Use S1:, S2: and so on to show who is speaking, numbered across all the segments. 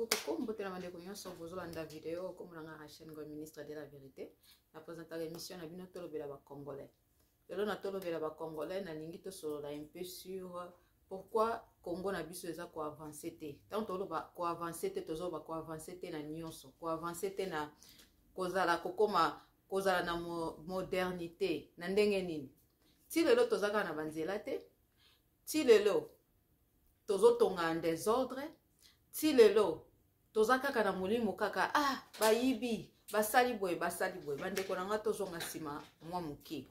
S1: kokombotela bandeko nyonso bozolanda video nkombo na ngai rachel ngoi ministre de la vérité na présentaka émission na bino tolobela bacongolais lelo na tolobela bacongolais nalingi tosolola un peu sur pourquoi congo na biso eza koavance te ntango toloba koavance te tozoloba koavance te na nyonso koavance te na kozala kokoma kozala na modernité na ndenge nini ti lelo toza kaka na banzela te ti lelo tozotonga en desordre ti lelo toza kaka na molimo kaka ah bayibi basali boye basali boye bandeko na ngai tozonga nsima mwa moke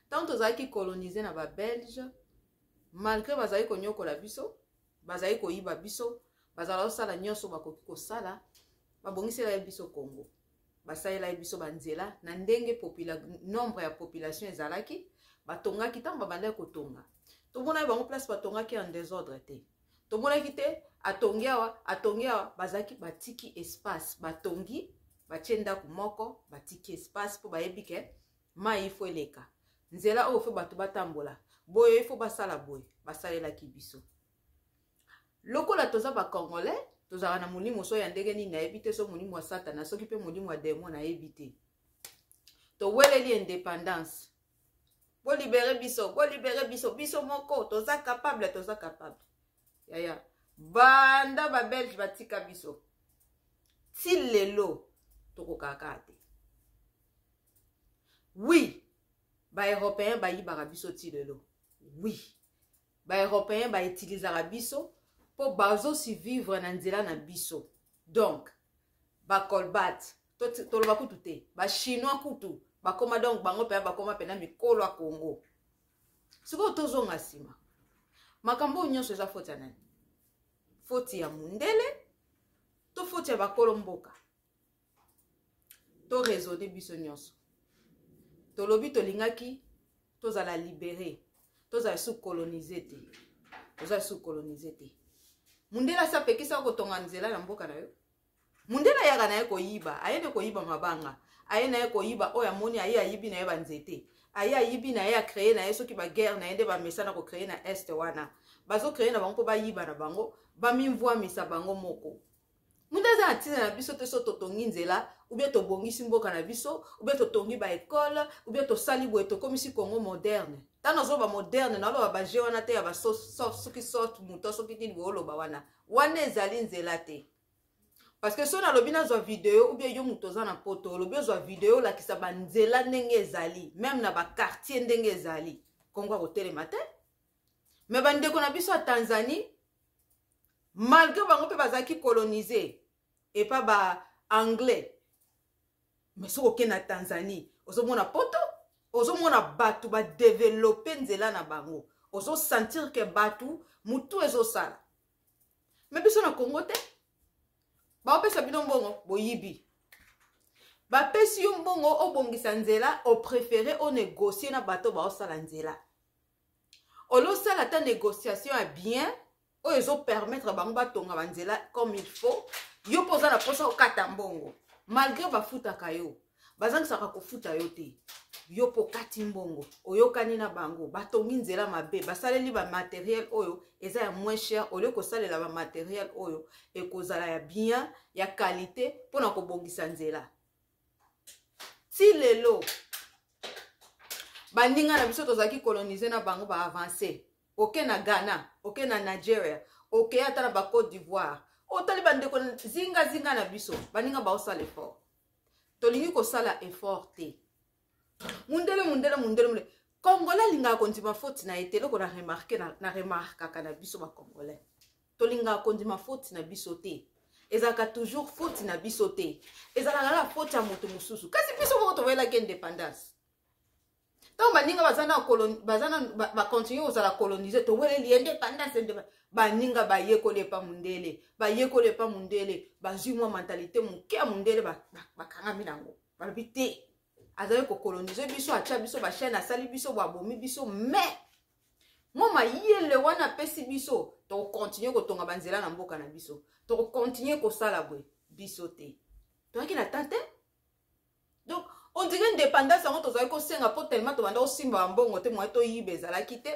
S1: ntango tozalaki kolonize na babelge malgre bazali konyokola biso bazali koyiba biso bazala kosala nyonso bakoki kosala babongisela ye biso congo basalelaki biso banzela na ndenge nombre ya population ezalaki batongaki ntango babandaki kotonga tomonaki bango place batongaki en desordre te tomonaki te atongi awa atongi awa bazalaki batiki espace batongi batie ndako moko batiki espace mpo bayebi ke mai ifo eleka nzela oyo fo bato batambola boye ifo basala boye basalelaki biso lokola toza ba congolais tozalaka na molimo so ya ndenge nini nayebi te so molimo ya satana soki mpe molimo ya demo nayebi te toweleli indépendance bolibere biso bolibere biso biso moko toza capable toza capable yaya banda babelge batika biso ti lelo tokokaka te wi baeuropéen bayibaka biso ti lelo oui baeuropéen bautilisaka biso mpo bazosivivre na nzela na biso donc bacolbat toloba kutu te bachinois kutu bakoma donc bango mpenza bakoma mpena mikolo ya congo sikoyo tozonga nsima makambo oyo nyonso eza foti ya nani foti ya mondele to foti ya bakolo mboka to raisonne biso nyonso tolobi tolingaki tozala libere tozala sous colonise te tozala sous colonise te mundele asi apekisa kotonga nzela na mboka na yo mundele ayaka na ye koyiba aye nde koyiba mabanga aye na ye koyiba oyo amoni aye ayibi na ye banzete aye ayibi na ye acreye na ye soki baguerre na ye nde bamesana kocreye na este wana bazocreye na bango mpo bayiba na bango bamimvwamisa bango moko mutu aza na ntina na biso te so totongi nzela ubie tobongisi mboka na biso ubie totongi baekole ubie tosali boye tokomisi congo moderne ntango azoloba moderne naoloba baje wana te ya basoki sorte moto soki nini booloba wana wana ezali nzela te parce que soki nalobi nazwa video ubie yo moto oza na poto olobi ozwa video olakisa banzela ndenge ezali meme na bakartier ndenge ezali kongo akotelema te me bandeko na biso ya tanzanie malgré bango mpe bazalaki colonise epa ba anglais mais soki okei na tanzanie ozomona poto ozomona bato badevelope nzela na bango ozosentir ke bato motu ezosala me biso na congo te baopesa bino mbongo boyibi bapesi yo mbongo obongisa nzela oprefere onegocie na bato baosala nzela olosala ata négociation ya bien oyo ezopermettre bango batonga banzela comme il faut yo mpo oza na mposa okata mbongo malgré bafutaka yo bazangisaka kofuta yo te yo mpo okati mbongo oyokani na bango batongi nzela mabe basaleli bamateriel oyo eza ya moins cher olie kosalela bamateriel oyo ekozala ya bien ya qualité mpo na kobongisa nzela ti lelo baninga na biso tozalaki colonise na bango baavance oke na ghana oke na nigeria oke ata na bacote d'ivoire otali bandeko zingazinga na biso baninga baosala effort tolingi kosala effort te mundele mundele mundele mundele congolais alingaka kondima foti na ye te eloko na remarke na remarkaka na biso bacongolais tolingaka kondima foti na biso te ezalaka toujours foti na biso te ezalaka kaka foti ya moto mosusu kasi biso moko tovelaki indépendance ntango baninga baza na baza na bacontinue kozala colonise toweleli indépendance indépendance baninga bayekoli epa mondele bayekoli epa mondele bazwi mwa mentalite moke ya mondele bakangami ba, ba nango balobi te azali kokolonize biso atya biso bachaine asali biso boabomi biso mais mwa mayele wana apesi biso tokokontinue kotonga banzela na mboka na biso tokokontinue kosala boye biso te toyaki na temps te donc ondire indépendance yango tozalaki kosenga mpo tellement tobanda kosimba bambongo te moye toyiba ezalaki te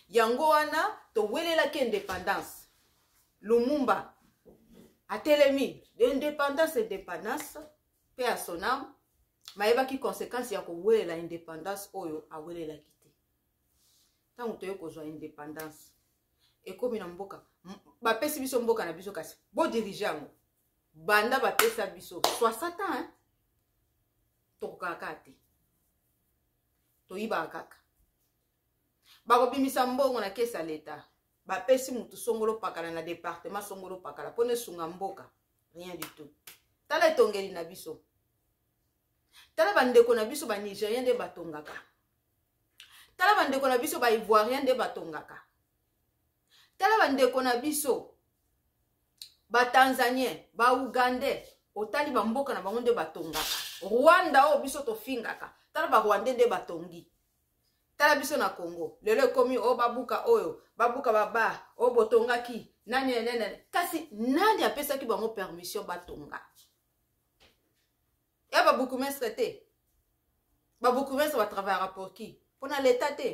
S1: yango wana towelelaki indépendance lumumba atelemi indépendance indépendance mpe ya sonam mayebaki conséquence ya kowelela indépendance oyo awelelaki ntango toyei kozwa independance ekomi na mboka bapesi biso mboka na biso kasi bodirige yango banda bapesa biso 60 ans tokokaka kaka te toyibaka kaka bakobimisa mbongo na kesi ya leta bapesi motu songolo pakala na departement songolo pakala mpo na esunga mboka rien du tout tala etongeli na biso tala bandeko na biso banigérien nde batongaka tala bandeko na biso baivoirien nde batongaka tala bandeko na biso batanzanien baougandais otali bamboka na bango nde batongaka rwanda oyo biso tofingaka tala barwandais nde batongi tala biso na congo lelo ekomi oyo oh, babuka oyo babuka babar oyo oh, botongaki nani nene kasi nani apesaki bango permission batonga ya ba bourgmestre te ba bourgmestre ba travaillaka pour qui mpo na leta te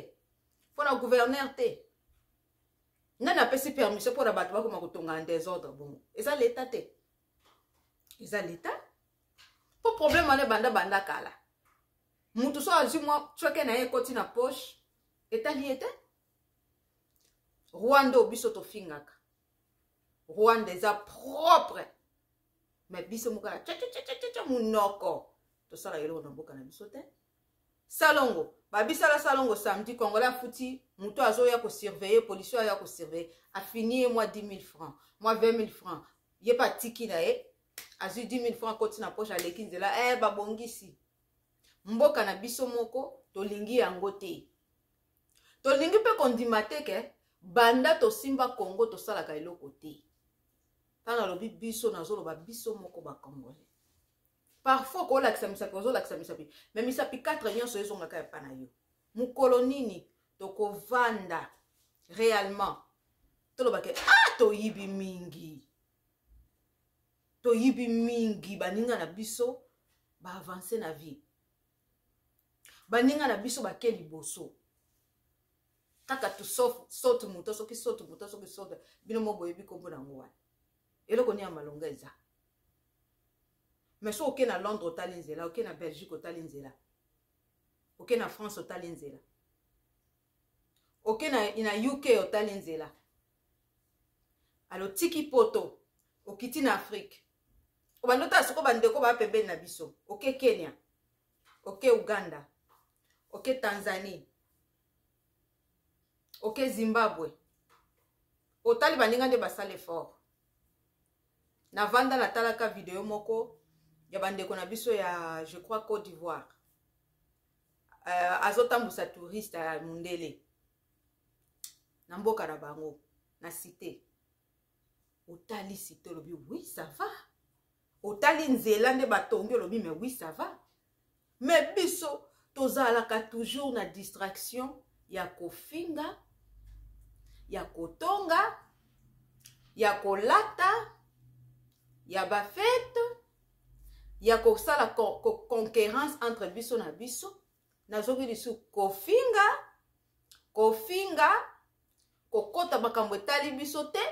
S1: mpo na gouverneur te nani apesi permission mpo na bato bakoma kotonga na desordre bongo eza leta te eza leta mpo problème wana ebanda banda kala motu so azwi mwa coke na ye ekoti na poche etali ye te rwanda oyo biso tofingaka rwanda eza propre me biso moko ya cacacacaca monoko tosala eloko na mboka na biso te salongo babisala salongo samedi congolais afuti moto azoya kosurveille policier aya kosurveille afini ye mwa 10 000 francs mwa 20 000 francs ye mpe atiki na ye azwi 10 000 francs akoti na poche aleki nzela e eh, babongisi mboka na biso moko tolingi yango te tolingi mpe kondima te ke banda tosimba kongo tosalaka eloko te ntango alobi biso nazoloba biso moko bacongolais parfois okolakisa misapi ozolakisa misapi me misapi 4 nyonso ezongaka epa na yo mokolo nini tokovanda réellement tolobake ah toyibi mingi toyibi mingi baninga na biso baavance na vie baninga na biso bake liboso kaka tu saute moto soki saute moto soki saute bino moko boyebi nkombo na yango wana eloko nini ya malonga eza mais soki oke na londres otali nzela oke na belgique otali nzela oke na france otali nzela oke na, na uk otali nzela alo tiki poto okiti na afrike obanda otala soko bandeko baa pembeni na biso oke kenya oke uganda oke tanzanie oke zimbabwe otali baninga nde basala effort navanda natalaka video moko ya bandeko na biso ya je crois côte d'ivoire uh, azotambusa touriste ya mundele na mboka na bango na cité otali cité olobi oui ça va otali nzela nde batongi olobi mais oui ça va mais biso tozalaka toujours na distraction ya kofinga ya kotonga ya kolata ya bafete ya kosala conquérance entre biso na biso nazoki lisu kofinga kofinga kokota makambo etali biso te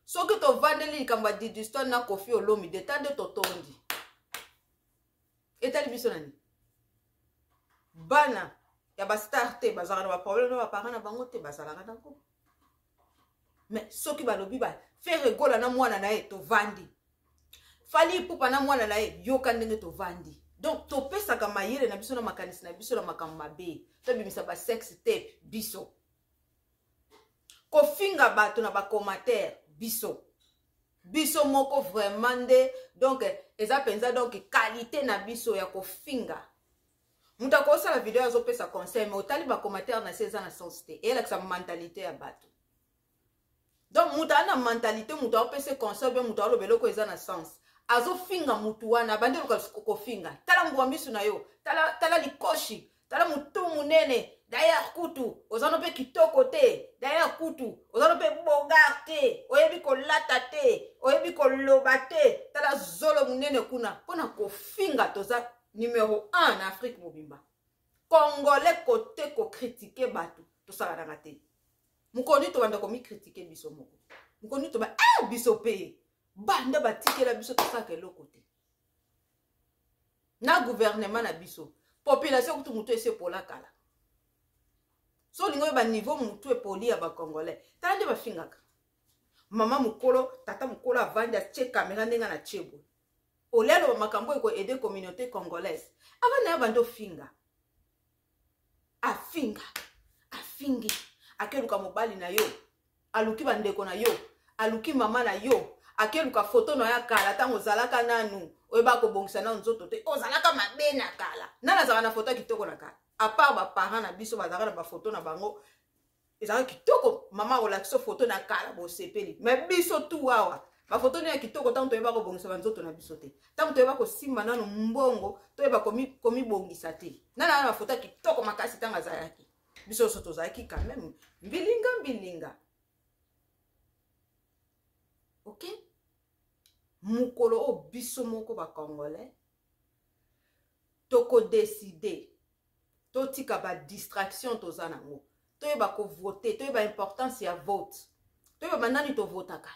S1: soki tovandeli likambo ya diduston na kofi olomi deta nde totondi etali biso na nini bana ya bastar te bazalaka na baproblème na baparent na bango te bazalaka nango mais soki balobi ba fere gola na mwana na ye tovandi fali ipupa na mwana na ye yoka ndenge tovandi donc topesaka mayele na biso na makanisi na biso na makambo mabe tobimisa basexe te biso kofinga bato na bacommentaire biso biso moko vraiment nde donc eza mpenza donc kalite na biso ya kofinga moto akosala video azopesa conseil me otali bacommentaire na se eza na sens te eyelakisa mentalite ya bato donc moto aza na mentalite moto aopesa conseil mpe moto aoloba eloko eza na sens azofinga motu wana abandi oluka kofinga tala mbwa misu na yo tala, tala likoshi tala motu monene dayar kutu oza no mpe kitoko te dayar kutu oza no mpe bogar te oyebi kolata te oyebi koloba te tala zolo monene kuna mpo na kofinga toza numero 1 na afrique mobimba congolais kote kokritike bato tosalanaka te mokolo nini tobanda komikritike biso moko mokolo nini toba e biso mpe banda batikela biso tosalaka eloko te na guvernema na biso population kutu motu esi epola kala so olingi oyeba niveau motu epoli ya bacongolais tala nde bafingaka mama mokolo tata mokolo avandi atie kamera ndenge na tie boye olia aloba makambo oyo koaide communauté congolaise ava na ya bando finga afinga afingi akeluka mobali na yo aluki bandeko na yo aluki mama na yo akeluka foto na ya kala ntango ozalaka nanu oyeba kobongisa nano nzoto te ozalaka mabe na kala nani azalaka na foto ya kitoko na kala apart baparent na biso bazalaka na bafoto na bango ezalaka kitoko mama akolakisa foto na kala bosepeli me biso tu awa bafoto nini ya kitoko ntango toyeba kobongisa banzoto na biso te ntango toyeba kosimba nano mbongo toyeba komibongisa te nana wana bafoto ya kitoko makasi ntango azalaki biso nyonso tozalaki quand meme mbilinga mbilinga ok mokolo oyo biso moko bacongolais tokodeside totika ba distraction toza nango toyeba kovote toyeba importance ya vote toyeba banani tovotaka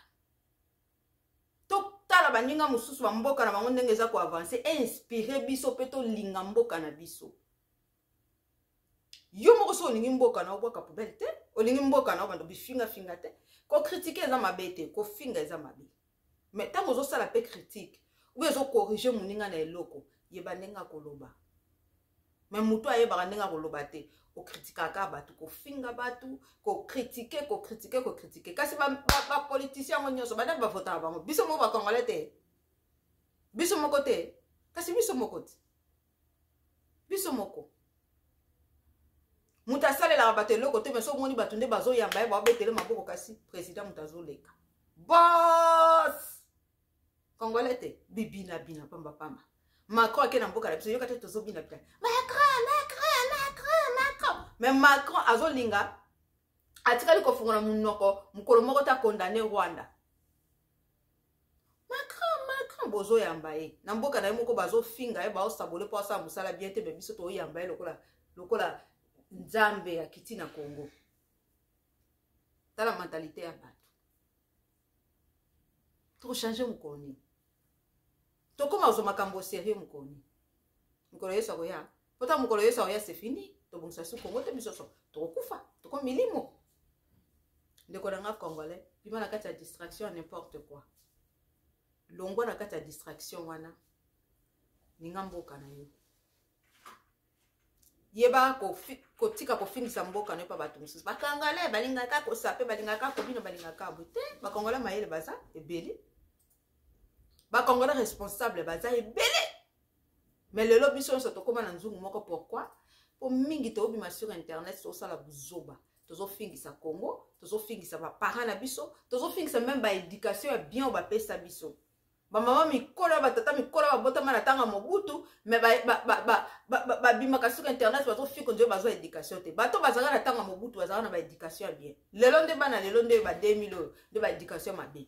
S1: totala baninga mosusu bamboka na bango ndenge eza koavanse einspire biso mpe tolinga mboka na biso yo moko soki olingi mboka na obwaka poubele te olingi mboka na obanda bifingafinga te kokritike eza mabe te kofinga eza mabe mais ntango ozosala mpe critique oyo ezokorrige moninga na eloko yeba ndenge akoloba me motu ayebaka ndenge akoloba te okritikaka bato kofinga bato kokritike kokritike kokritike kasi bapolitisien yango nyonso badani bavotaka bango biso moko bakongole te biso moko te kasi biso moko te biso moko moto asalelaka bato eloko te mais soki omoni bato nde bazoyamba ye baobetele maboko kasi président moto azoleka bos congolais te bibinabina pambapamba macron ake na mboka na biso yoka te tozobinabina macron macron macron macron mais macron azolinga atikali kofungola monoko mokolo moko te akondane rwanda macron macron bozoyamba ye na mboka na ye moko bazofinga ye baosabole mpo asala mosala bien te me biso toyamba ye lokola lokola nzambe ya kiti na congo tala mentalite ya bato tokochange mokolo nini tokoma kozwa makambo serie mokolo nini mokolo yesu akoya po ta mokolo yesu aoya se fini tobongisa su kongo te biso so tokokufa toko milimo ndeko na nga congolais bima na kati ya distraction ya n'importe quoi longwa na kati ya distraction wana ninga mboka na yo yeba kotika ko kofingisa mboka no epa bato mosusu bakangale balingaka kosape balingaka kobino balingaka bo te bakongole mayele baza ebele bacongolais responsable baza ebele mais lelo biso nyonso tokóma na nzungu moko pourquoi mpo mingi tobima sur internet tozosala buzoba tozofingisa congo tozofingisa baparent na biso tozofingisa meme baéducation ya bien oyo bapesa biso bamama mikolo ya batata mikolo ya babotama na ntango ya mobutu me babimaka sur internet bazofingo nzoyo bazwa éducation te bato bazalaka na ntango ya mobutu bazalaka na baéducation ya bien lelo nde bana lelo nde ba 2000 oyo nde baéducation mabe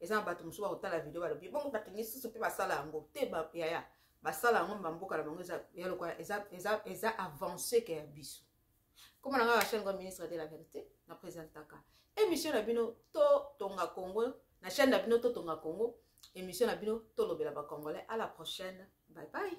S1: eza na bato mosusu bakotala video balobi bongo bato misusu mpe basala yango te yaya basala yango bamboka na bango ya lokola eza avance ke ya biso koma na ngai bachaine ngo ministre de la verité na présentaka émission na bino totonga congo na chaîne na bino totonga congo émission na bino tolobela bacongolais à la prochaine bye bye